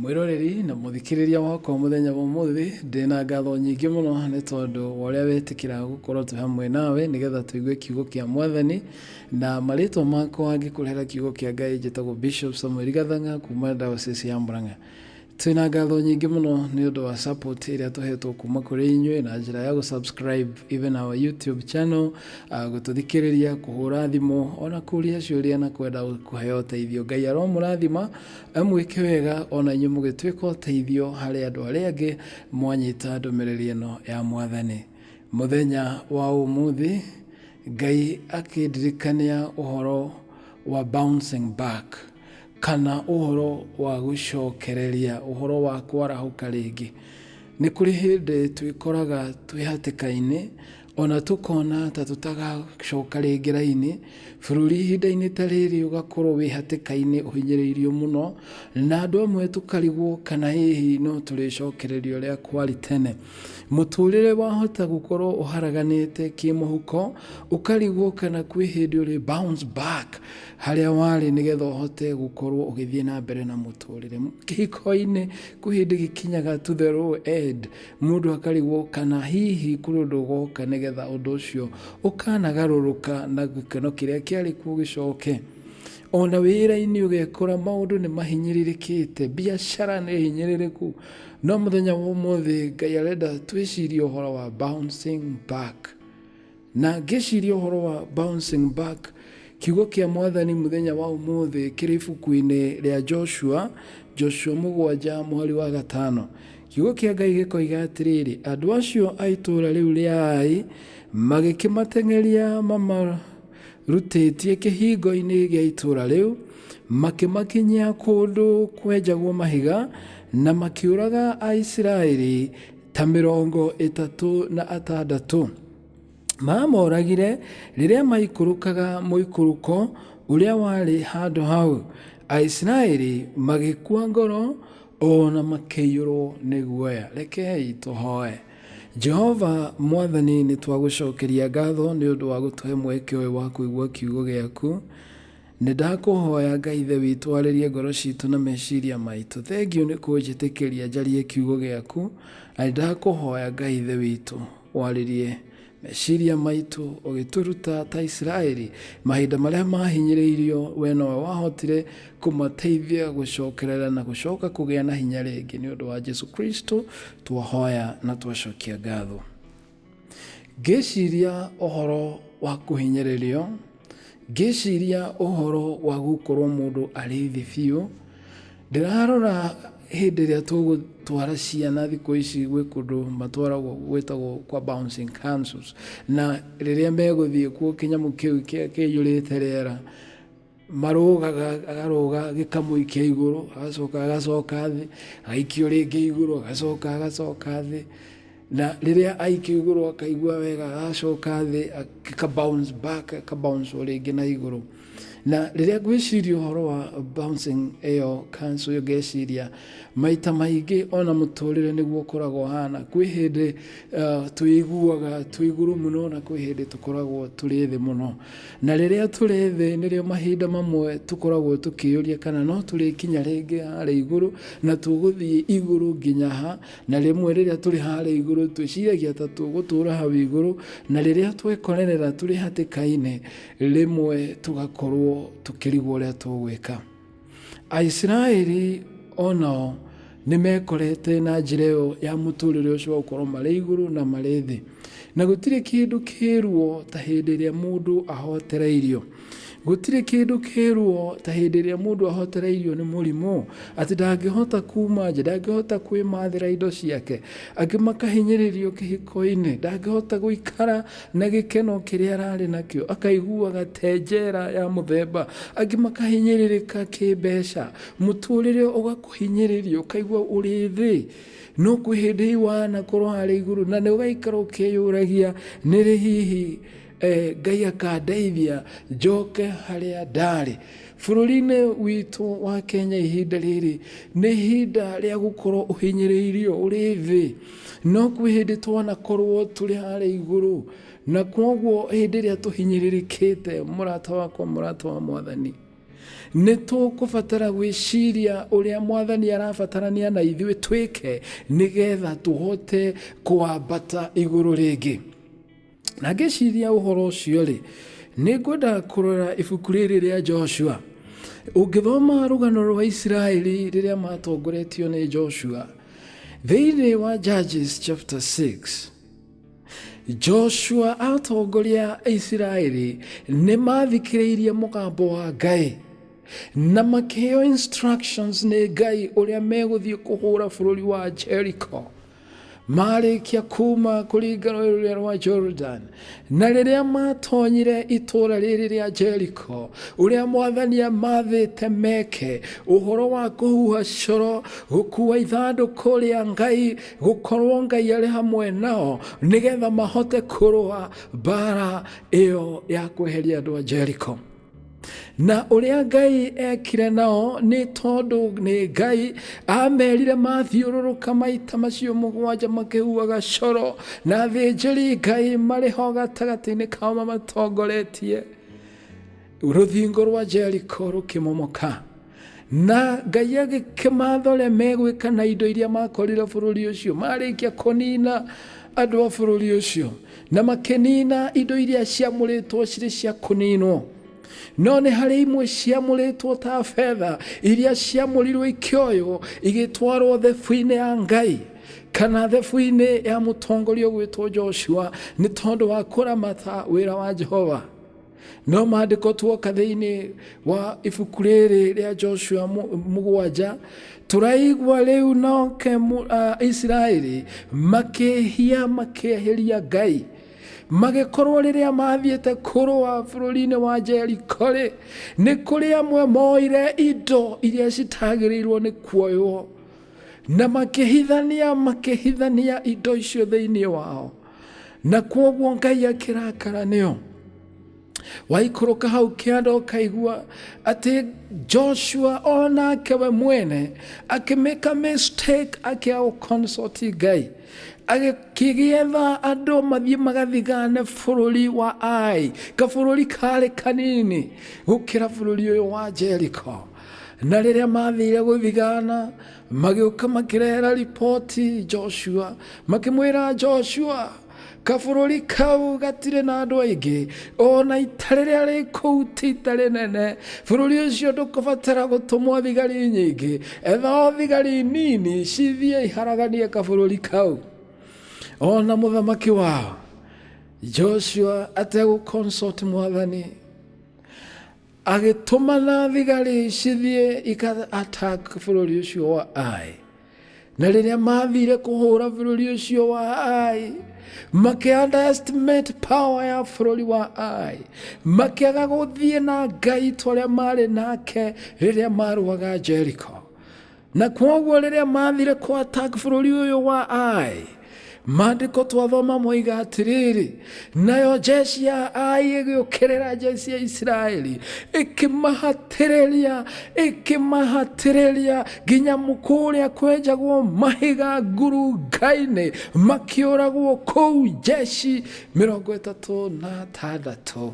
Mwĩroreri na mũthikĩrĩria wakwa mũthenya wa ũmũthĩ, ndĩ na ngatho nyingĩ mũno nĩ tondũ wa ũrĩa wetĩkĩra gũkorwo twĩ hamwe nawe nĩgetha tũigue kiugo kĩa mwathani na marĩtwa makwa ngĩkũrehera kiugo kĩa Ngai njĩtagwo Bishop Samuel Gathanga kuma diocese ya Murang'a. Twĩ na ngatho nyingĩ mũno nĩ ũndũ wa support ĩrĩa tũhetwo kuma kũrĩ inyuĩ na njĩra ya gũ-subscribe even our YouTube channel, ah, gũtũthikĩrĩria, kũhũra thimũ, ona kũria ciũria na kwenda kũheo ũteithio. Ngai aromũrathima Mwĩke wega o na inyuĩ mũgĩtuĩka ũteithio harĩ andũ arĩa angĩ mwanyita ndũmĩrĩri ĩno ya mwathani. Mũthenya wa ũmũthĩ Ngai akĩndirikania ũhoro wa bouncing back kana ũhoro wa gũcokereria, ũhoro wa kwarahũka rĩngĩ. Nĩ kũrĩ hĩndĩ twĩkoraga twĩ hatĩka-inĩ Ona tũkona ta tũtagacoka rĩngĩ rainĩ, bũrũri ihinda-inĩ ta rĩrĩ ũgakorwo wĩ hatĩka-inĩ ũhinyĩrĩirio mũno, na andũ amwe tũkarigwo kana hihi no tũrĩcokereria ũrĩa kwarĩ tene. Mũtũrĩre wahota gũkorwo ũharaganĩte kĩmũhuko, ũkarigwo kana kwĩ hĩndĩ ũrĩ bounce back harĩa warĩ nĩgetha ũhote gũkorwo ũgĩthiĩ na mbere na mũtũrĩre. Kĩhiko-inĩ kwĩ hĩndĩ gĩkinyaga to the low end. Mũndũ akarigwo kana hihi kũrĩ ũndũ ũgoka nĩgetha ũndũ ũcio ũkanagarũrũka na gĩkeno kĩrĩa kĩarĩ kuo gĩcoke. O na wĩra-inĩ ũgekora maũndũ nĩ mahinyĩrĩrĩkĩte, biacara nĩ hinyĩrĩrĩku. No mũthenya wa ũmũthĩ Ngai arenda twĩcirie ũhoro wa bouncing back. Na ngĩciria ũhoro wa bouncing back, kiugo kĩa Mwathani mũthenya wa ũmũthĩ kĩrĩ ibuku-inĩ rĩa Joshua, Joshua mũgwanja mũhari wa gatano. Kiugo kĩa Ngai gĩkoiga atĩrĩrĩ, Andũ acio a itũũra rĩu rĩa Ai magĩkĩmateng'eria mamarutĩtie kĩhingo-inĩ gĩa itũũra rĩu, makĩmakinyia kũndũ kwenjagwo mahiga, na makĩũraga Aisiraeli ta mĩrongo ĩtatũ na atandatũ. Maamoragire rĩrĩa maikũrũkaga mũikũrũko ũrĩa warĩ handũ hau. Aisiraeli magĩkua ngoro o na makĩiyũrwo nĩ guoya. Rekei tũhoe. Jehova mwathani nĩ twagũcokeria ngatho nĩ ũndũ wa gũtũhe mweke ũyũ wa kũigua kiugo gĩaku. Nĩ ndakũhoya Ngai Ithe witũ arĩrie ngoro citũ na meciria maitũ. Thengiũ nĩ kũnjĩtĩkĩria njarie kiugo gĩaku, na nĩ ndakũhoya Ngai Ithe witũ warĩrie meciria maitũ ũgĩtũruta ta Isiraeli mahinda marĩa mahinyĩrĩirio, we nowe wahotire kũmateithia gũcokerera na gũcoka kũgĩa na hinya rĩngĩ. Nĩ ũndũ wa Jesu Kristo twahoya na twacokia ngatho. Ngĩciria ũhoro wa kũhinyererio, ngĩciria ũhoro wa gũkorwo mũndũ arĩ thĩ biũ, ndĩrarora hĩndĩ ĩrĩa tũgũtwara ciana thikũ ici gwĩ kũndũ matwaragwo gwĩtagwo kwa bouncing councils na rĩrĩa megũthiĩ kuo kĩnyamũ kĩu kĩihũrĩte rĩera. marũgaga akarũga gĩkamũi kĩa igũrũ agacoka agacoka thĩ agaikio rĩngĩ igũrũ agacoka agacoka thĩ na rĩrĩa aikio igũrũ akaigua wega agacoka thĩ aka bounce back aka bounce rĩngĩ na igũrũ na rĩrĩa ngwĩciria ũhoro wa bouncing ĩyo kancu ĩyo ngeciria maita maingĩ ona mũtũrĩre nĩguo ũkoragwo hana kwĩ hĩndĩ uh, twĩiguaga twĩ igũrũ mũno na kwĩ hĩndĩ tũkoragwo tũrĩ thĩ mũno Na rĩrĩa tũrĩ thĩ nĩrĩo mahinda mamwe tũkoragwo tũkĩyũria kana no tũrĩkinya rĩngĩ harĩa igũrũ na tũgũthiĩ igũrũ nginya ha, na rĩmwe rĩrĩa tũrĩ harĩa igũrũ twĩciragia ta tũgũtũũra hau igũrũ, na rĩrĩa twekorerera tũrĩ hatĩka-inĩ, rĩmwe tũgakorũo tũkĩrigwo ũrĩa tũgwĩka. aisiraeli o nao nĩ mekorete na njĩra ĩyo ya mũtũrĩre ũcio wa gũkorwo marĩ igũrũ na marĩ thĩ na gũtirĩ kĩndũ kĩruo ta hĩndĩ ĩrĩa mũndũ ahotereirio gũtirĩ kĩndũ kĩruo ta hĩndĩ ĩrĩa mũndũ ahotereirio nĩ mũrimũ atĩ ndangĩhota kuma nja ndangĩhota kwĩmathĩra indo ciake angĩ makahinyĩrĩrio kĩhiko-inĩ ndangĩhota gũikara Na gĩkeno kĩrĩa ararĩ nakĩo, akaiguaga te njera ya mũthemba. Angĩ makahinyĩrĩrĩka kĩmbeca, mũtũrĩre ũgakũhinyĩrĩria, ũkaigua ũrĩ thĩ. No kwĩ hĩndĩ wanakorwo harĩa igũrũ, na nĩ ũgaikara ũkĩyũragia, nĩ rĩ hihi Ngai akandeithia njoke harĩa ndarĩ. Bũrũri-inĩ witũ wa Kenya ihinda rĩrĩ, nĩ ihinda rĩa gũkorwo ũhinyĩrĩirio, ũrĩ thĩ. No kwĩ hĩndĩ twanakorwo tũrĩ harĩa igũrũ, na kwoguo hĩndĩ ĩrĩa tũhinyĩrĩrĩkĩte, mũrata wakwa, mũrata wa Mwathani, nĩ tũkũbatara gwĩciria ũrĩa Mwathani arabatarania na ithuĩ twĩke nĩgetha tũhote kwambata igũrũ rĩngĩ. Na ngĩciria ũhoro ũcio-rĩ, nĩ ngwenda kũrora ibuku rĩrĩ rĩa Joshua. Ũngĩthoma rũgano rwa Isiraeli rĩrĩa matongoretio nĩ Joshua, thĩinĩ wa Judges chapter 6, Joshua atongoria Isiraeli nĩ mathikĩrĩirie mũgambo wa Ngai na makĩheo instructions nĩ Ngai ũrĩa megũthiĩ kũhũra bũrũri wa Jericho. Maarĩkia kuuma kũringa rũĩ rũrĩa rwa Jorodani, na rĩrĩa maatonyire itũũra rĩrĩ rĩa Jeriko, ũrĩa mwathani amaathĩte meke, ũhoro wa kũhuha coro, gũkuua ithandũkũ rĩa Ngai, gũkorwo Ngai arĩ hamwe nao, nĩgetha mahote kũrũa mbaara ĩyo ya kweheria andũ a Jeriko. na ũrĩa ngai ekire nao nĩ tondũ nĩ ngai amerire mathiũrũrũka maita macio mũgwanja makĩhuaga coro na thĩnjĩri ngai marĩ ho gatagatĩ-inĩ kao mamatongoretie rũthingo rwa jeriko rũkĩmomoka na ngai agĩkĩmatha ũrĩa megwĩka na indo iria makorire bũrũri ũcio marĩkia kũnina andũ a bũrũri ũcio na makĩnina indo iria ciamũrĩtwo cirĩ cia kũninwo no nĩ harĩ imwe ciamũrĩtwo ta betha iria ciamũrirwo ikĩoywo igĩtwarwo thebu-inĩ ya ngai kana thebu-inĩ ya mũtongoria ũgwĩtwo joshua nĩ tondũ wa kũramata wĩra wa jehova no maandĩko tuoka thĩinĩ wa ibuku rĩrĩ rĩa joshua mu- mũgwanja tũraigua rĩu noke mu- a- isiraeli makĩhia makĩehĩria ngai magĩkorwo rĩrĩa mathiĩte kũrũa bũrũri-inĩ wa jeriko-rĩ nĩ kũrĩ amwe moire indo iria citagĩrĩirwo nĩ kuoywo na makĩhithania makĩhithania indo icio thĩinĩ wao na kwoguo ngai akĩrakara nĩo waikũrũka hau kĩanda ũkaigua atĩ joshua o nake we mwene akĩmĩka mistake akĩa gũconsoti ngai agĩkĩgĩetha andũ mathiĩ magathigane bũrũri wa ai kabũrũri karĩ kanini gũkĩra bũrũri ũyũ wa jeriko na rĩrĩa mathire gũthigana magĩũka makĩrehera riboti joshua makĩmwĩra joshua kabũrũri kau gatirĩ na andũ aingĩ ona ita rĩrĩa rĩ kũu ti ita rĩnene bũrũri ũcio ndũkũbatara gũtũmwo thigari nyingĩ etha o thigari nini cithiĩ iharaganie kabũrũri kau ona mũthamaki wao joshua ategũconsult mwathani agĩtũmana thigari cithiĩ ika attack bũrũri ũcio wa Ai na rĩrĩa mathire kũhũra bũrũri ũcio wa Ai makĩ underestimate power ya bũrũri wa Ai makĩaga gũthiĩ na ngai tũrĩa marĩ nake rĩrĩa marũaga Jericho na kwoguo rĩrĩa mathire kwa attack bũrũri ũyũ wa ai maandĩko twathoma moiga atĩrĩrĩ nayo jeshi ya ai ĩgĩũkĩrĩra jeshi ya isiraeli ĩkĩmahatĩrĩria ĩkĩmahatĩrĩria nginya kũrĩa kwenjagwo mahiga ngurunga-inĩ makĩũragwo kũu jeshi mĩrongo ĩtatũ na atandatũ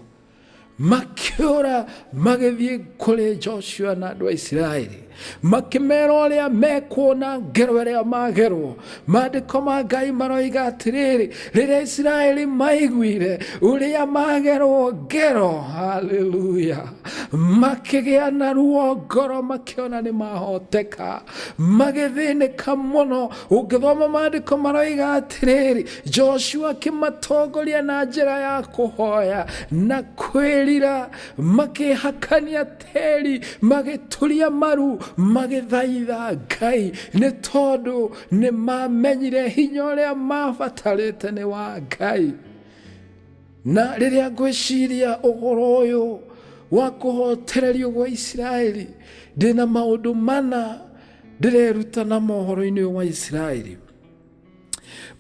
makiora magĩthiĩ kũrĩ joshua na andũ a isiraeli makĩmera ũrĩa mekuona ngero ĩrĩa magerwo maandĩko ma ngai maroiga atĩrĩrĩ rĩrĩa isiraeli maiguire ũrĩa magerwo ngero haleluya makĩgĩa na ruo ngoro makĩona nĩ mahoteka magĩthĩnĩka mũno ũngĩthoma maandĩko maroiga atĩrĩrĩ joshua akĩmatongoria na njĩra ya kũhoya na kwĩrira makĩhakania tĩri magĩturia maru magĩthaitha ngai nĩ tondũ nĩ mamenyire hinya ũrĩa mabatarĩte nĩ wa ngai na rĩrĩa ngwĩciria ũhoro ũyũ wa kũhotererio gwa isiraeli ndĩna maũndũ mana ndĩreruta na mohoro-inĩ ũyũ wa isiraeli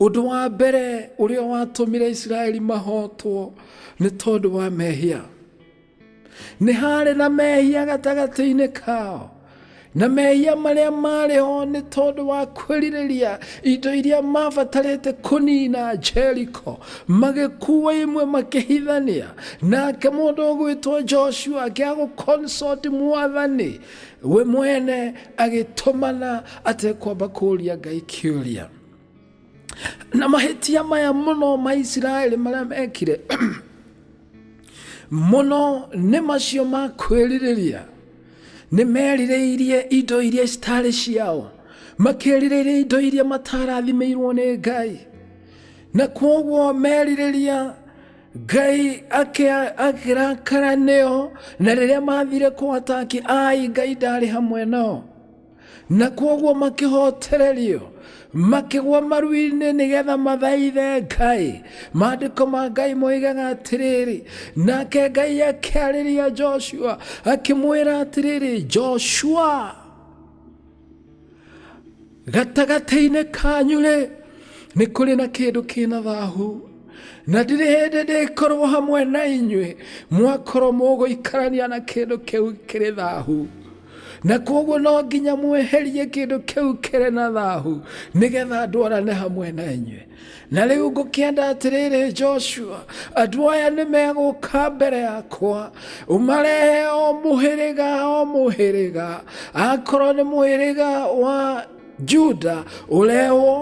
ũndũ wa mbere ũrĩa watũmire isiraeli mahotwo nĩ tondũ wa mehia nĩ harĩ na mehia gatagatĩ-inĩ kao na mehia marĩa marĩ ho nĩ tondũ wa kwĩrirĩria indo iria mabatarĩte kũnina jeriko magĩkuwa imwe makĩhithania nake mũndũ ũgwĩtwo joshua akĩagũconsoti mwathani We mwene agĩtũmana atekwamba kũũria Ngai kĩũria. Na mahĩtia maya mũno ma Isiraeli marĩa mekire mũno nĩ macio ma kwĩrirĩria nĩ merirĩirie indo iria citarĩ ciao makerirĩria indo iria matarathimĩirwo nĩ ngai na kwoguo merirĩria ngai akĩa- akĩrakara nĩo na rĩrĩa mathire kũataki ai ngai ndarĩ hamwe nao na kwoguo makĩhotererio makĩgwa maru-inĩ nĩgetha mathaithe ngai maandĩko ma ngai moigaga atĩrĩrĩ nake ngai akĩarĩria joshua akĩmwĩra atĩrĩrĩ joshua gatagatĩ-inĩ kanyu rĩ nĩ kũrĩ na kĩndũ kĩna thahu na ndirĩ hĩndĩ ndĩkorwo hamwe na inyuĩ mwakorwo mũgũikarania na kĩndũ kĩu kĩrĩ thahu na koguo no nginya mweherie kĩndũ kĩu kĩrĩ na thahu nĩgetha ndwarane hamwe na inyuĩ Na rĩu ngũkĩenda atĩrĩrĩ Joshua, andũ aya nĩ megũka mbere yakwa, ũmarehe o mũhĩrĩga o mũhĩrĩga, akorwo nĩ mũhĩrĩga wa Juda ũrehwo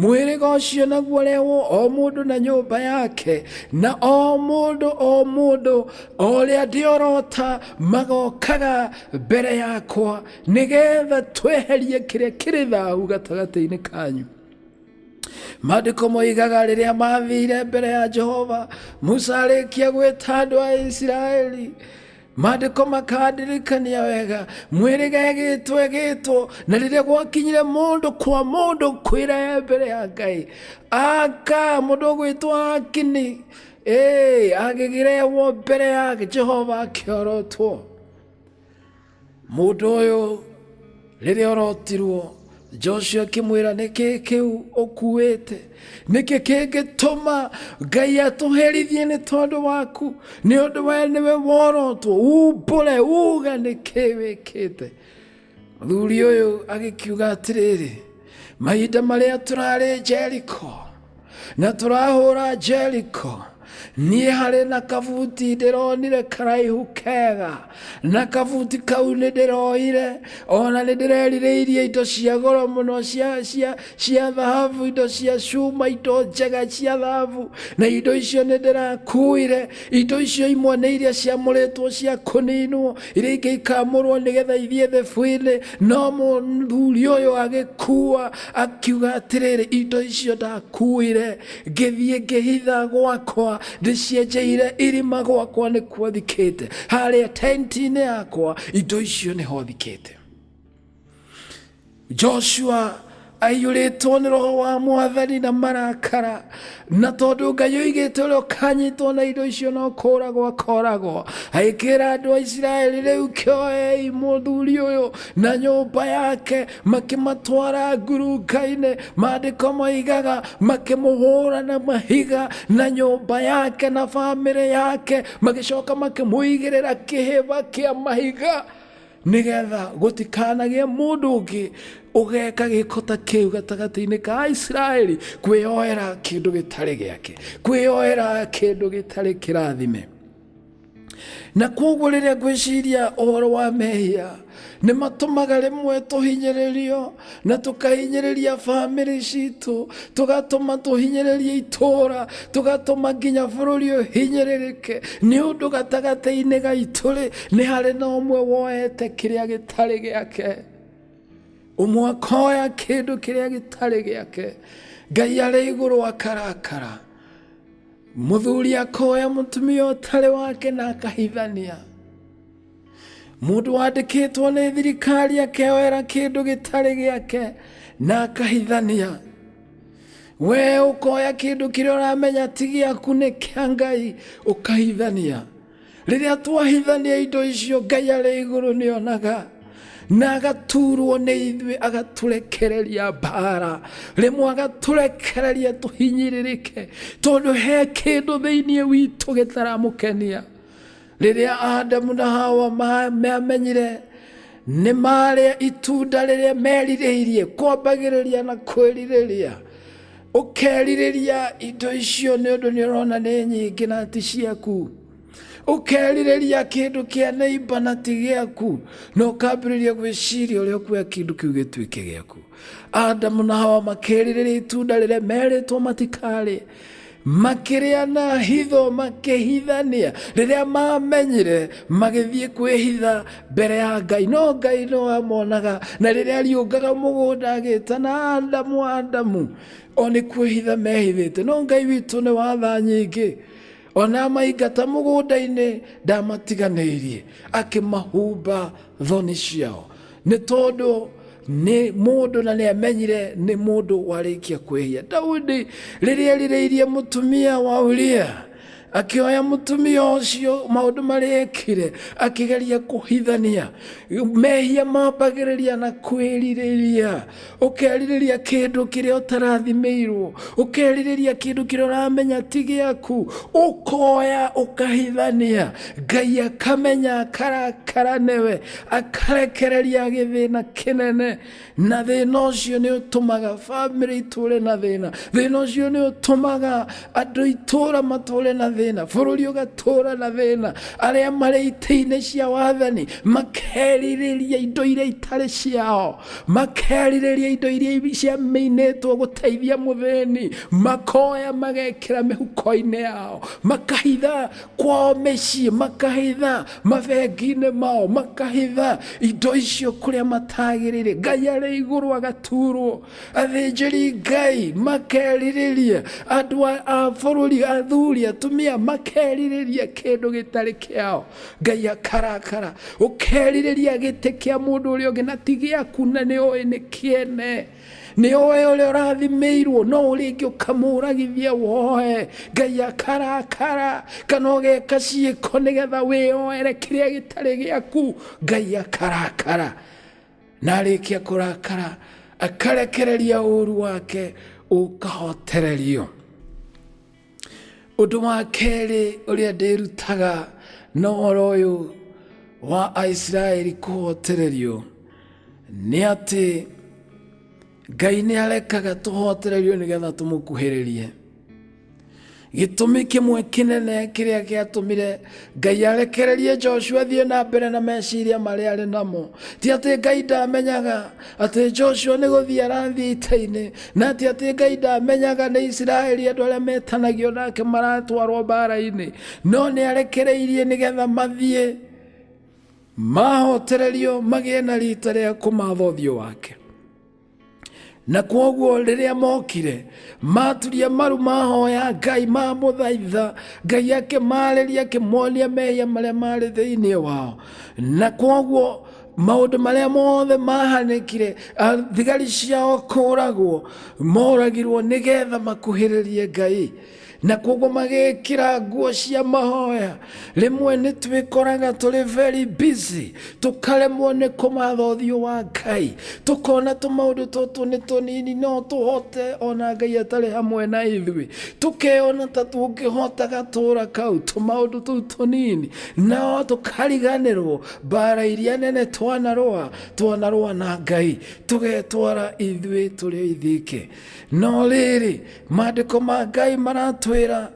mũhĩrĩga ũcio naguo ũrehwo o mũndũ na nyũmba yake na o mũndũ o mũndũ o ũrĩa ndĩorota magokaga mbere yakwa nĩgetha tweherie kĩrĩa kĩrĩ thahu gatagatĩ-inĩ kanyu maandĩko moigaga rĩrĩa mathire mbere ya jehova musa arĩkia gwĩta andũ a isiraeli maandĩko makandirikania wega mwĩrĩga ĩgĩtwo ĩgĩtwo na rĩrĩa gwakinyire mũndũ kwa mũndũ kwĩra e mbere ya ngai aka mũndũ ũgwĩtwo akini ĩĩ agĩgĩrehwo mbere ya jehova akĩorotwo Mũndũ ũyũ rĩrĩa ũrotirwo Joshua akĩmwĩra nĩkĩ kĩu ũkuĩte nĩkĩ kĩngĩtũma ngai atũherithie nĩ tondũ waku nĩ ũndũ we nĩwe worotwo umbũre uga nĩkĩ wĩkĩte mũthuri ũyũ agĩkiuga atĩrĩrĩ mahinda marĩa tũrarĩ jeriko na tũrahũra jeriko niĩ harĩ na kabuti ndĩronire karaihu kega na kabuti kau nĩ ndĩroire ona nĩ ndĩrerirĩirie indo cia goro mũno cia cia cia thahabu indo cia cuma indo njega cia thahabu na indo icio nĩ ndĩrakuire indo icio imwe nĩ iria ciamũrĩtwo cia kũninwo iria ingĩ ikamũrwo nĩgetha ithiĩ the bwĩrĩ no mũthuri ũyũ agĩkua akiuga atĩrĩrĩ indo icio ndakuire ngĩthiĩ ngĩhitha gwakwa ndĩcienjeire irima gwakwa nĩkuo thikĩte harĩa tenti-inĩ yakwa indo icio nĩho thikĩte joshua aiyũrĩtwo nĩ roho wa mwathani na marakara na tondũ ngai oigĩte ũrĩa ũkanyitwo na indo icio no kũragwo akoragwo agĩkĩra andũ a isiraeli rĩu kĩoei mũthuri ũyũ na nyũmba yake makĩmatwara ngurunga-inĩ maandĩko moigaga makĩmũhũra na mahiga na nyũmba yake na bamĩrĩ yake magĩcoka makĩmũigĩrĩra kĩhĩba kĩa mahiga nĩgetha gũtikanagĩe mũndũ ũngĩ ũgeka gĩko ta kĩu gatagatĩ-inĩ ka Aisiraeli kwĩyoera kĩndũ gĩtarĩ gĩake kwĩyoera kĩndũ gĩtarĩ kĩrathime na kwoguo rĩrĩa ngwĩciria ũhoro wa mehia nĩ matũmaga rĩmwe tũhinyĩrĩrio na tũkahinyĩrĩria bamĩrĩ citũ tũgatũma tũhinyĩrĩrie itũũra tũgatũma nginya bũrũri ũhinyĩrĩrĩke nĩ ũndũ gatagatĩ-inĩ gaitũ rĩ nĩ harĩ na ũmwe woete kĩrĩa gĩtarĩ gĩake ũmwe akoya kĩndũ kĩrĩa gĩtarĩ gĩake ngai arĩ igũrũ akarakara mũthuri akoya mũtumia ũtarĩ wake na akahithania mũndũ wandĩkĩtwo nĩ thirikari akeoera kĩndũ gĩtarĩ gĩake na akahithania we ũkoya kĩndũ kĩrĩa ũramenya ti gĩaku nĩ kĩa ngai ũkahithania rĩrĩa twahithania indo icio ngai arĩ igũrũ nĩonaga na agaturwo nĩ ithuĩ agatũrekereria mbara rĩmwe agatũrekereria tũhinyĩrĩrĩke tondũ he kĩndũ thĩinĩ witũ gĩtaramũkenia rĩrĩa adamu na hawa ma- meamenyire nĩ marĩa itunda rĩrĩa merirĩirie kwambagĩrĩria na kwĩrirĩria ũkerirĩria indo icio nĩ ũndũ nĩ ũrona nĩ nyingĩ na ti ciaku ũkerirĩria kĩndũ kĩa neiba na ti gĩaku na ũkambĩrĩria gwĩciria ũrĩa ũkuoya kĩndũ kĩu gĩtuĩke gĩaku adamu na hawa makerirĩria itunda rĩrĩa merĩtwo matikarĩ makĩrĩa na hitho makĩhithania rĩrĩa mamenyire magĩthiĩ kwĩhitha mbere ya ngai no ngai no amonaga na rĩrĩa ariũngaga mũgũnda agĩtana adamu adamu o nĩ kwĩhitha mehithĩte no ngai witũ nĩ watha nyingĩ ona maingata mũgũnda-inĩ ndamatiganĩirie akĩmahumba thoni ciao nĩ tondũ nĩ mũndũ na nĩ amenyire nĩ mũndũ warĩkia kwĩhia daudi rĩrĩa erirĩirie mũtumia wa uria akĩoya mũtumia ũcio maũndũ marĩa ekire akĩgeria kũhithania mehia mambagĩrĩria na kwĩrirĩria ũkerirĩria kĩndũ kĩrĩa ũtarathimĩirwo ũkerirĩria kĩndũ kĩrĩa ũramenya ti gĩaku ũkoya ũkahithania ngai akamenya akarakara newe akarekereria gĩthĩna kĩnene na thĩna ũcio nĩ ũtũmaga bamĩrĩ itũre na thĩna thĩna ũcio nĩ ũtũmaga andũ itũra matũre na thĩna bũrũri ũgatũra na thĩna arĩa marĩ itĩ-inĩ cia wathani makerirĩria indo iria itarĩ ciao makerirĩria indo iria ciamĩinĩtwo gũteithia mũthĩni makoya magekĩra mĩhuko-inĩ yao makahitha kwao mĩciĩ makahitha mabengi-inĩ mao makahitha indo icio kũrĩa matagĩrĩire ngai arĩ igũrũ agaturwo athĩnjĩri ngai makerirĩria andũ a- a bũrũri athuri atumia makerirĩria kĩndũ gĩtarĩ kĩao ngai akarakara ũkerirĩria gĩtĩ kĩa mũndũ ũrĩa ũngĩ na ti gĩaku na nĩ oĩ nĩ kĩene nĩ oĩ ũrĩa ũrathimĩirwo no ũrĩngĩ ũkamũragithia woe ngai akarakara kana ũgeka ciĩko nĩgetha wĩyoere kĩrĩa gĩtarĩ gĩaku ngai akarakara na arĩkia kũrakara akarekereria ũru wake ũkahotererio Ũndũ wa kerĩ ũrĩa ndĩrutaga na ũhoro ũyũ wa Aisiraeli kũhotererio nĩ atĩ Ngai nĩ arekaga tũhotererio nĩgetha tũmũkuhĩrĩrie. Gĩtũmi kĩmwe kĩnene kĩrĩa gĩatũmire Ngai arekererie Joshua athiĩ na mbere na meciria marĩa arĩ namo ti atĩ Ngai ndamenyaga atĩ joshua nĩ gũthiĩ arathiĩ ita-inĩ na atĩ atĩ ngai ndamenyaga nĩ isiraeli andũ arĩa metanagio nake maratwarwo mbaara-inĩ no nĩ arekereirie nĩgetha mathiĩ mahotererio magĩe na rita rĩa kũmatha ũthiũ wake na kwoguo rĩrĩa mokire maturia maru mahoya ngai mamũthaitha ngai akĩmarĩria akĩmonia mehia marĩa marĩ thĩinĩ wao na kwoguo maũndũ marĩa mothe mahanĩkire a- thigari ciao kũragwo moragirwo nĩgetha makuhĩrĩrie ngai na koguo magĩkĩra nguo cia mahoya rĩmwe nĩ twĩkoraga tũrĩ very busy tũkaremwo nĩ kũmatha ũthiũ wa ngai tũkona tũmaũndũ tũtũ nĩ tũnini no tũhote ona ngai atarĩ hamwe na ithuĩ tũkeona ta tũngĩhota gatũra kau tũmaũndũ tũu tũnini nao tũkariganĩrwo Mbaara iria nene twanarũa, twanarũa na Ngai, tũgetwara ithuĩ tũrĩ aithĩke. No rĩrĩ, maandĩko ma Ngai maratwĩra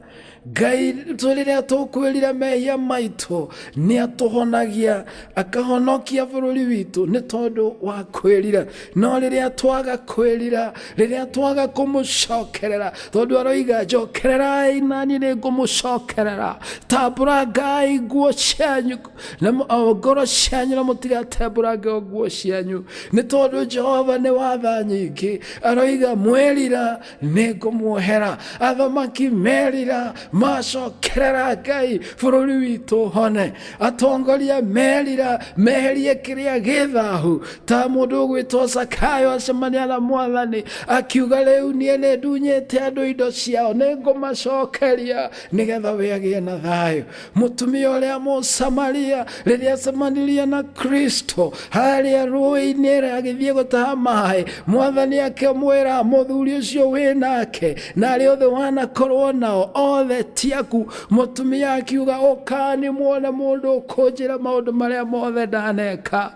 Ngai tũ- rĩrĩa tũkwĩrira mehia maitũ nĩ atũhonagia akahonokia bũrũri witũ nĩ tondũ wa kwĩrira no rĩrĩa twaga kwĩrira rĩrĩa twaga kũmũcokerera tondũ aroiga njokererai nani nĩ ngũmũcokerera tambũrangai nguo cianyu na mu- o ngoro cianyu na mũtigatembũrange o nguo cianyu nĩ tondũ jehova nĩ watha nyingĩ aroiga mwerira nĩ ngũmuohera athamaki merira macokerera ngai bũrũri witũ hone atongoria merira meherie kĩrĩa gĩthahu ta mũndũ ũgwĩtwo sakayo acemania na mwathani akiuga rĩu niĩ nĩ ndunyĩte andũ indo ciao nĩ ngũmacokeria nĩgetha we agĩe na thayũ Mũtumia ũrĩa Mũsamaria rĩrĩa acemanirie na Kristo harĩa rũĩ-inĩ agĩthiĩ gũtaha maĩ, mwathani akĩmwĩra mũthuri ũcio wĩ nake na arĩa othe wanakorwo nao othe ti aku. Mũtumia akiuga ũkani muone mũndũ ũkũnjĩra maũndũ marĩa mothe ndaneka.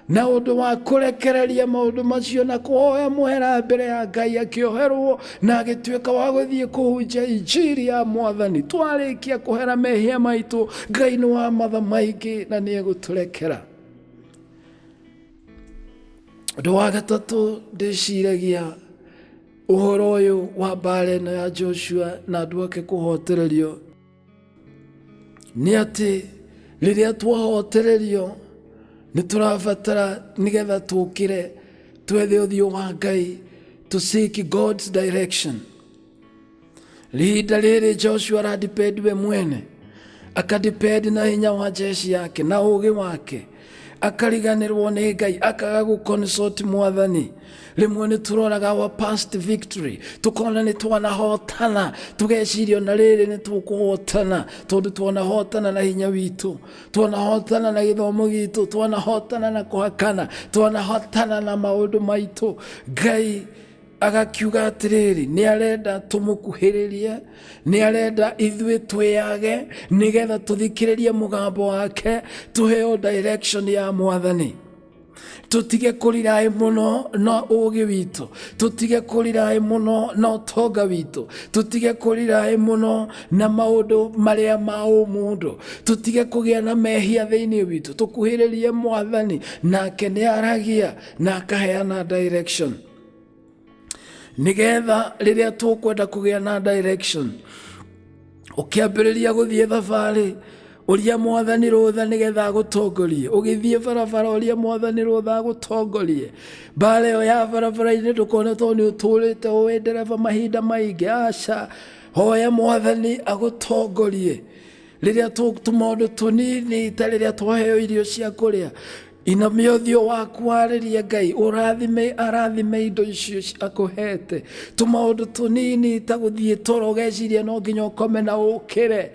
na ũndũ wa kũrekereria maũndũ macio na kũhoya mũhera mbere ya ngai akĩoherwo na agĩtuĩka wa gũthiĩ kũhunjia injiri ya mwathani twarĩkia kũhera mehia maitũ ngai nĩ wa matha maingĩ na nĩ egũtũrekera ũndũ wa gatatũ ndĩciragia ũhoro ũyũ wa mbaara ĩno ya joshua na andũ ake kũhotererio nĩ atĩ rĩrĩa twahotererio nĩ tũrabatara nĩgetha tũkĩre twethe ũthiũ wa ngai to seek god's direction rihinda rĩrĩ joshua aradipend we mwene akadipend na hinya wa jeshi yake na ũgĩ wake akariganĩrwo nĩ ngai akaga gũconsult mwathani rĩmwe nĩ tũroraga our past victory tũkona nĩ twanahotana tũgeciria ona rĩrĩ nĩ tũkũhotana tondũ twanahotana na hinya witũ twanahotana na gĩthomo gitũ twanahotana na kũhakana twanahotana na maũndũ maitũ ngai agakiuga atĩrĩrĩ nĩ arenda tũmũkuhĩrĩrie nĩ arenda ithuĩ twĩyage nĩgetha tũthikĩrĩrie mũgambo wake tũheo direction ya mwathani tũtige kũriraĩ mũno na ũũgĩ witũ tũtige kũriraĩ mũno na ũtonga witũ tũtige kũriraĩ mũno na maũndũ marĩa ma ũmũndũ tũtige kũgĩa na mehia thĩinĩ witũ tũkuhĩrĩrie mwathani nake nĩ aragia na akaheana direction nigetha rĩrĩa tũkwenda kũgĩa na direction ũkĩambĩrĩria gũthiĩ thabarĩ ũria mwathani rũtha nĩgetha agũtongorie ũgĩthiĩ barabara ũria mwathani rũtha agũtongorie mbara ĩyo ya barabara-inĩ ndũkone tondũ nĩ ũtũrĩte ũĩ ndereba mahinda maingĩ aca hoya mwathani agũtongorie rĩrĩa tũtũ maũndũ tũnini ta rĩrĩa twaheo irio cia kũrĩa Inamia ũthiũ waku warĩrie Ngai, ũrathime arathime indo icio ci- akũhete. Tũmaũndũ tũnini ta gũthiĩ toro ũgeciria no nginya ũkome na ũkĩre,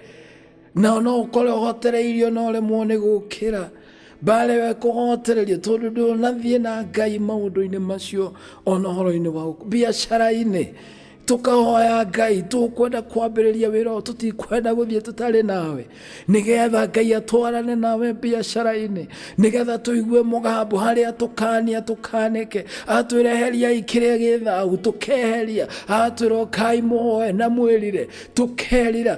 na no ũkore ũhotereirio na ũremwo nĩ gũkĩra. Mbaare ĩyo ĩkũhotereria tondũ ndũnathiĩ na Ngai maũndũ-inĩ macio ona ũhoro-inĩ wa gũkũ- biacara-inĩ tũkahoya ngai tũkwenda kwambĩrĩria wĩra ũyũ tũtikwenda gũthiĩ tũtarĩ nawe nĩgetha ngai atwarane nawe biacara-inĩ nĩgetha tũigue mũgambo harĩa tũkania tũkanĩke atwĩra eheriai kĩrĩa gĩ thahu tũkeheria atwĩra ũkai mũhoe na mwĩrire tũkerira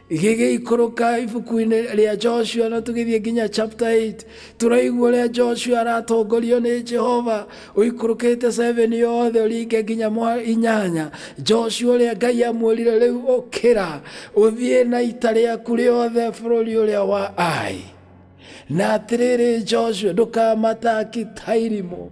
gĩgĩikũrũka ibuku-inĩ rĩa joshua na tũgĩthiĩ nginya chapter 8 tũraigua ũrĩa joshua aratongorio nĩ jehova ũikũrũkĩte 7 yothe ũringe nginya mwa inyanya joshua ũrĩa ngai amwĩrire rĩu ũkĩra ũthiĩ na ita rĩaku rĩothe bũrũri ũrĩa wa ai na atĩrĩrĩ joshua ndũkamataki tairimũ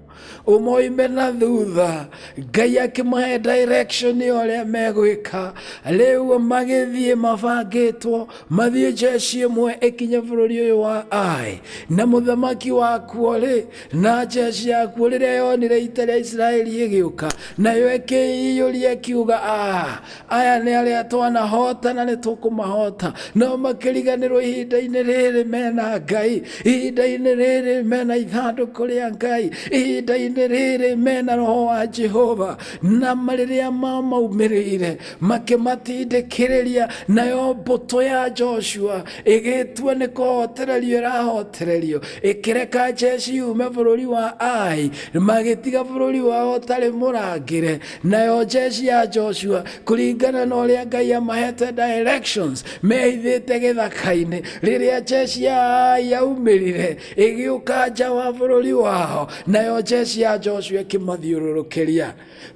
ũmoime na thutha ngai akĩmahe direction ũrĩa megwĩka rĩu magĩthiĩ mabangĩtwo mathiĩ jeshi ĩmwe ĩkinye bũrũri ũyũ wa ai na mũthamaki wakuo rĩ na jeshi yakuo rĩrĩa yonire ita rĩa isiraeli ĩgĩũka nayo ĩkĩiyũria ĩkiuga "Ah, aya nĩ arĩa twanahota na nĩ tũkũmahota nao makĩriganĩrwo ihinda-inĩ rĩrĩ mena ngai ihinda-inĩ rĩrĩ mena ithandũkũ rĩa ngai ihinda-inĩ rĩrĩ mena roho wa jehova na ma- rĩrĩa mamaumĩrĩire makĩmatindĩkĩrĩria nayo mbũtũ ya joshua ĩgĩtua nĩ kũhotererio ĩrahotererio ĩkĩreka jeci yume bũrũri wa ai magĩtiga bũrũri wao ũtarĩ mũrangĩre nayo njeshi ya joshua kũringana na ũrĩa ngai amahete directions mehithĩte gĩthaka-inĩ rĩrĩa njeshi ya ai yaumĩrire ĩgĩũka nja wa bũrũri wao nayo njeshi ya joshua ĩkĩmathiũrũrũkĩria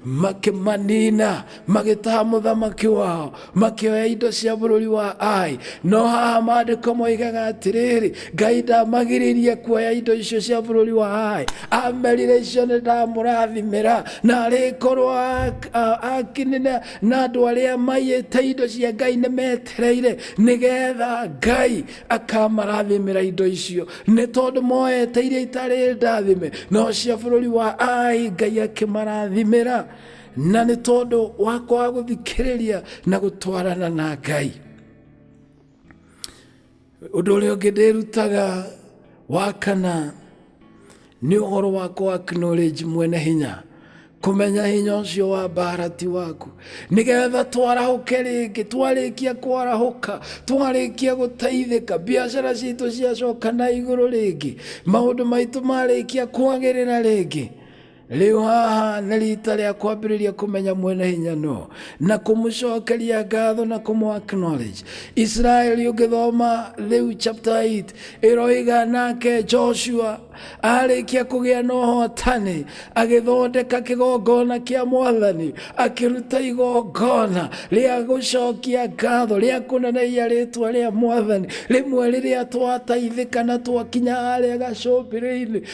makĩmanina magĩtaha mũthamaki wao makĩoya indo cia bũrũri wa ai no haha maandĩko moigaga atĩrĩrĩ ngai ndamagirĩrie kuoya indo icio cia bũrũri wa ai amerire icio nĩ ndamũrathimĩra na arĩkorwo ak- a- akinina na andũ arĩa maiyĩte indo cia ngai nĩ metereire nĩgetha ngai akamarathimĩra indo icio nĩ tondũ moete iria itarĩ ndathime no cia bũrũri wa ai ngai akĩmarathimĩra na nĩ tondũ wa kwaga gũthikĩrĩria na gũtwarana na ngai ũndũ ũrĩa ũngĩ ndĩrutaga wa kana nĩ ũhoro wa kũ acknowledge mwene hinya kũmenya hinya ũcio wa mbara ti waku nĩgetha twarahũke rĩngĩ twarĩkia kwarahũka twarĩkia gũteithĩka biacara citũ ciacoka na igũrũ rĩngĩ maũndũ maitũ marĩkia kwagĩrĩra rĩngĩ rĩu haha nĩ rita rĩa kwambĩrĩria kũmenya mwene hinya no na kũmũcokeria ngatho na kũmũ acknowledge isiraeli ũngĩthoma rĩu chapter 8 ĩroiga nake joshua arĩkia kũgĩa na ũhotani agĩthondeka kĩgongona kĩa mwathani akĩruta igongona rĩa gũcokia ngatho rĩa kũneneia rĩtwa rĩa mwathani rĩmwe rĩrĩa twataithĩka na twakinya harĩa gacũmbĩrĩ-inĩ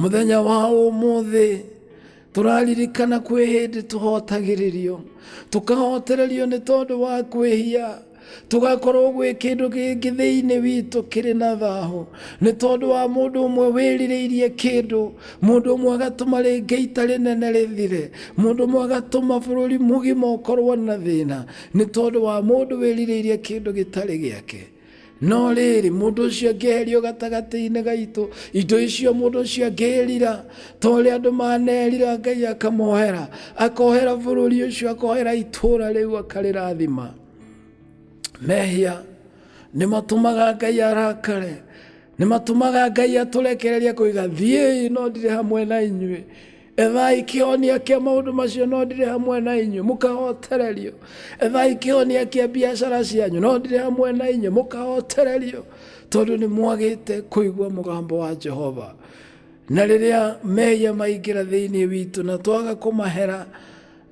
mũthenya wa ũmũthĩ tũraririkana kwĩ hĩndĩ tũhotagĩrĩrio tũkahotererio nĩ tondũ wa kwĩhia tũgakorwo gwĩ kĩndũ gĩkĩ thĩinĩ witũ kĩrĩ na thahũ nĩ tondũ wa mũndũ ũmwe wĩrirĩirie kĩndũ mũndũ ũmwe agatũma rĩngĩ ita rĩnene rĩthire mũndũ ũmwe agatũma bũrũri mũgima ũkorwo na thĩna nĩ tondũ wa mũndũ wĩrirĩirie kĩndũ gĩtarĩ gĩake no rĩrĩ mũndũ ũcio angĩeherio gatagatĩ-inĩ gaitũ indo icio mũndũ ũcio angĩrira ta ũrĩa andũ manerira ngai akamohera akohera bũrũri ũcio akohera itũũra rĩu akarĩrathima mehia nĩ matũmaga ngai arakare Nĩ matũmaga Ngai atũrekereria kũiga thiĩi no ndirĩ hamwe na inyuĩ. Ethai kĩhonia kĩa maũndũ macio no ndirĩ hamwe na inyuĩ, mũkahotererio. Ethai kĩhonia kĩa biacara cianyu no ndirĩ hamwe na inyuĩ, mũkahotererio tondũ nĩ mwagĩte kũigua mũgambo wa Jehova. Na rĩrĩa mehia maingĩra thĩinĩ witũ na twaga kũmahera,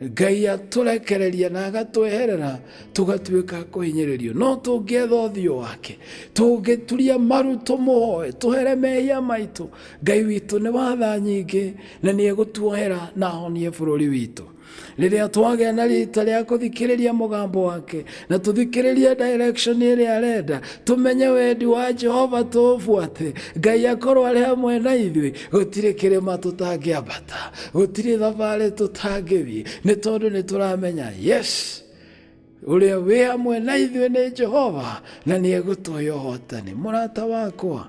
Ngai atũrekereria na agatweherera tũgatuĩka a kũhinyĩrĩrio no tũngĩetha ũthiũ wake tũngĩturia maru tũmũhoe tũhere mehia maitũ Ngai witũ nĩ watha nyingĩ na nĩ egũtuohera na ahonie bũrũri witũ rĩrĩa twagĩa na rita rĩa kũthikĩrĩria mũgambo wake na tũthikĩrĩrie direction ĩrĩa arenda tũmenye wendi wa jehova tũũbuate ngai akorwo arĩ hamwe na ithuĩ gũtirĩ kĩrĩma tũtangĩambata gũtirĩ thabarĩ tũtangĩthiĩ nĩ tondũ nĩ tũramenya yes ũrĩa wĩ hamwe na ithuĩ nĩ jehova na nĩ egũtũhe ũhotani mũrata wakwa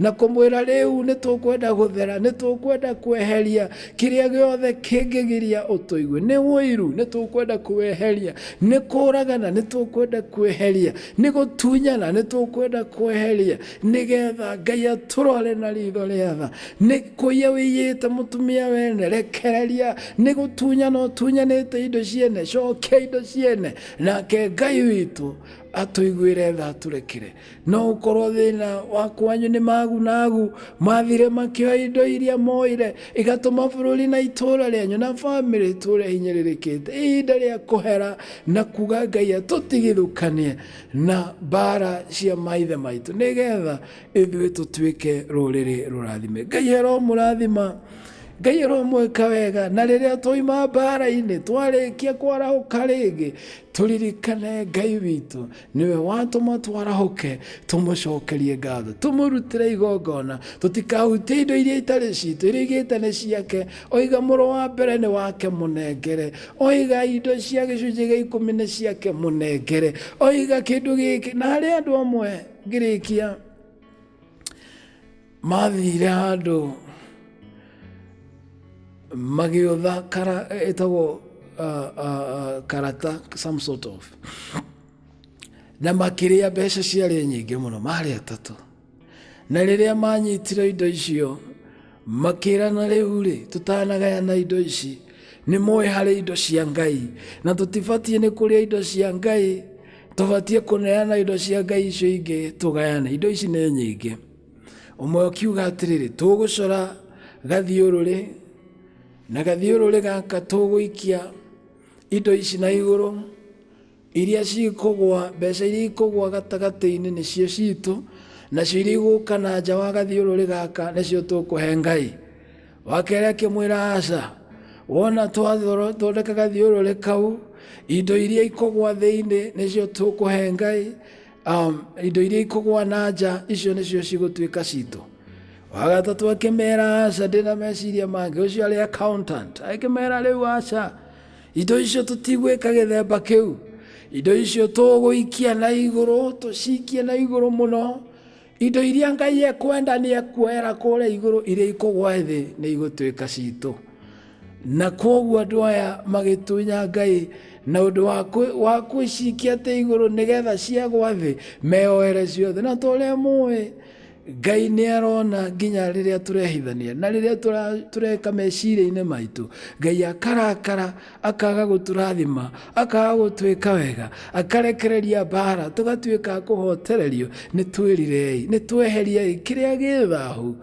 na kũmwĩra rĩu nĩ tũkwenda gũthera nĩ tũkwenda kweheria kĩrĩa gĩothe kĩngĩgiria ũtũigue nĩ ũiru nĩ tũkwenda kweheria nĩ kũragana nĩ tũkwenda kweheria nĩ gũtunyana nĩ tũkwenda kweheria nĩgetha ngai atũrore na ritho rĩa tha nĩ kũiya wĩiyĩte mũtumia wene rekereria nĩ gũtunyana ũtunyanĩte indo ciene cokia indo ciene nake ngai witũ atũiguĩre tha atũrekere No ũkorwo thĩna wa kwanyu nĩ magunagu mathire makĩoya indo iria moire igatũma bũrũri na itũũra rĩanyu na famĩlĩ itũũre hinyĩrĩrĩkĩte. Ihinda rĩa kũhera na kuga Ngai atũtigithũkanie na mbaara cia maithe maitũ nĩ getha ithuĩ tũtuĩke rũrĩrĩ rũrathime. Ngai aromũrathima. Ngai aromwĩka wega na rĩrĩa twauma mbaara-inĩ twarĩkia kwarahũka rĩngĩ tũririkane Ngai witũ. Nĩwe watũma twarahũke, tũmũcokerie ngatho, tũmũrutĩre igongona, tũtikahutie indo iria itarĩ citũ, iria igĩte nĩ ciake, oiga mũrũ wa mbere nĩ wake mũnengere, oiga indo cia gĩcunjĩ gĩa ikũmi nĩ ciake mũnengere, oiga kĩndũ gĩkĩ, na harĩ andũ amwe ngĩrĩkia mathire handũ magĩũtha kara ĩtagwo uh, uh, uh, karata some sort of na makĩrĩa mbeca ciarĩ nyingĩ mũno marĩ atatũ na rĩrĩa manyitire indo icio makĩrana rĩu rĩ tũtanagayana indo ici nĩ moĩ harĩ indo cia ngai na tũtibatiĩ nĩ kũrĩa indo cia ngai tũbatiĩ kũneana indo cia ngai icio ingĩ tũgayane indo ici nĩ nyingĩ ũmwe ũkiuga atĩrĩrĩ tũgũcora gathiũrũrĩ na gathiũrũrĩ gaka tũgũikia indo ici na igũrũ iria cikũgwa mbeca iria ikũgwa gatagatĩ-inĩ nĩcio citũ nacio iria igũka na nja wa gathiũrũrĩ gaka nĩcio tũkũhe ngai wa kerĩ akĩmwĩra aca wona twathondeka gathiũrũrĩ kau indo iria ikũgwa thĩinĩ nĩcio tũkũhe ngai Um, indo iria ikũgwa na nja icio nĩcio cigũtuĩka citũ wagatatũ akĩmera aca ndĩ na meciria mangĩ ũcio arĩ accountant akĩmera rĩu aca indo icio tũtigwĩka gĩthemba kĩu indo icio tũgũikia na igũrũ tũcikie na igũrũ mũno Indo iria Ngai ekwenda nĩ ekuoera kũrĩa igũrũ iria ikũgwa thĩ nĩ igũtuĩka citũ. Na kwoguo andũ aya magĩtunya Ngai na ũndũ wa kwĩcikia atĩ igũrũ nĩgetha ciagwa thĩ meoere ciothe. Na tũrĩa mũĩ Ngai nĩ arona nginya rĩrĩa tũrehithania na rĩrĩa tũreka meciria-inĩ maitũ. Ngai akarakara akaga gũtũrathima akaga gũtwĩka wega akarekereria mbara tũgatuĩka a kũhotererio nĩ twĩrirei nĩ tweheriei kĩrĩa gĩ thahu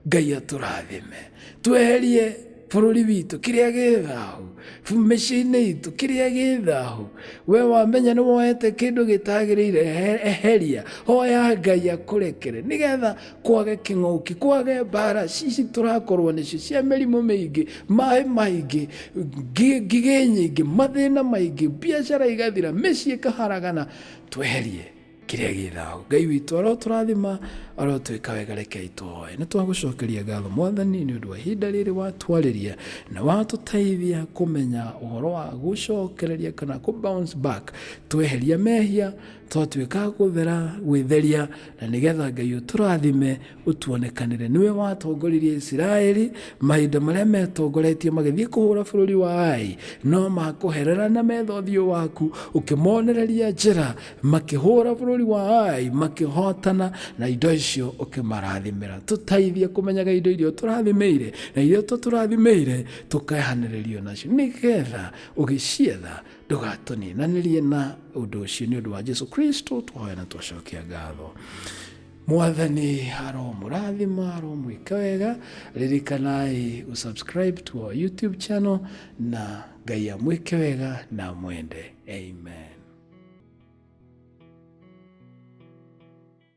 ngai atũrathime tweherie bũrũri witũ kĩrĩa gĩ thahu mĩciĩ-inĩ itũ kĩrĩa gĩ thahu we wamenya nĩ woete kĩndũ gĩtagĩrĩire ehe- eheria hoya ngai akũrekere nĩgetha kwage kĩng'oki kwage mbara cici tũrakorwo nĩcio cia mĩrimũ mĩingĩ maĩ maingĩ ngi- ngigĩ nyingĩ mathĩna maingĩ biacara igathira mĩciĩ ĩkaharagana tweherie kĩrĩa gĩ thao ngai witũ arotũrathima arotwĩka wega rekei twoe nĩ twagũcokeria ngatho mwathani nĩ ũndũ wa ihinda rĩrĩ watwarĩria na watũteithia kũmenya ũhoro wa gũcokereria kana kũ bounce back tweheria mehia twatuĩka gũthera gwĩtheria na nĩgetha ngai ũtũrathime ũtuonekanĩre nĩwe watongoririe isiraeli mahinda marĩa metongoretie magĩthiĩ kũhũra bũrũri wa ai no makũherera na metha ũthiũ waku ũkĩmonereria njĩra makĩhũra bũrũri wa ai makĩhotana na indo icio ũkĩmarathimĩra tũteithie kũmenyaga indo iria ũtũrathimĩire na iria ũtatũrathimĩire tũkehanĩrĩrio nacio nĩgetha ũgĩcietha ndũgatũninanĩrie na ũndũ ũcio nĩ ũndũ wa jesu kristo twahoya na twacokia ngatho mwathani aromũrathima aromwĩka wega ririkanai gũsubscribe to our youtube channel na ngai amwĩke wega na mwende amen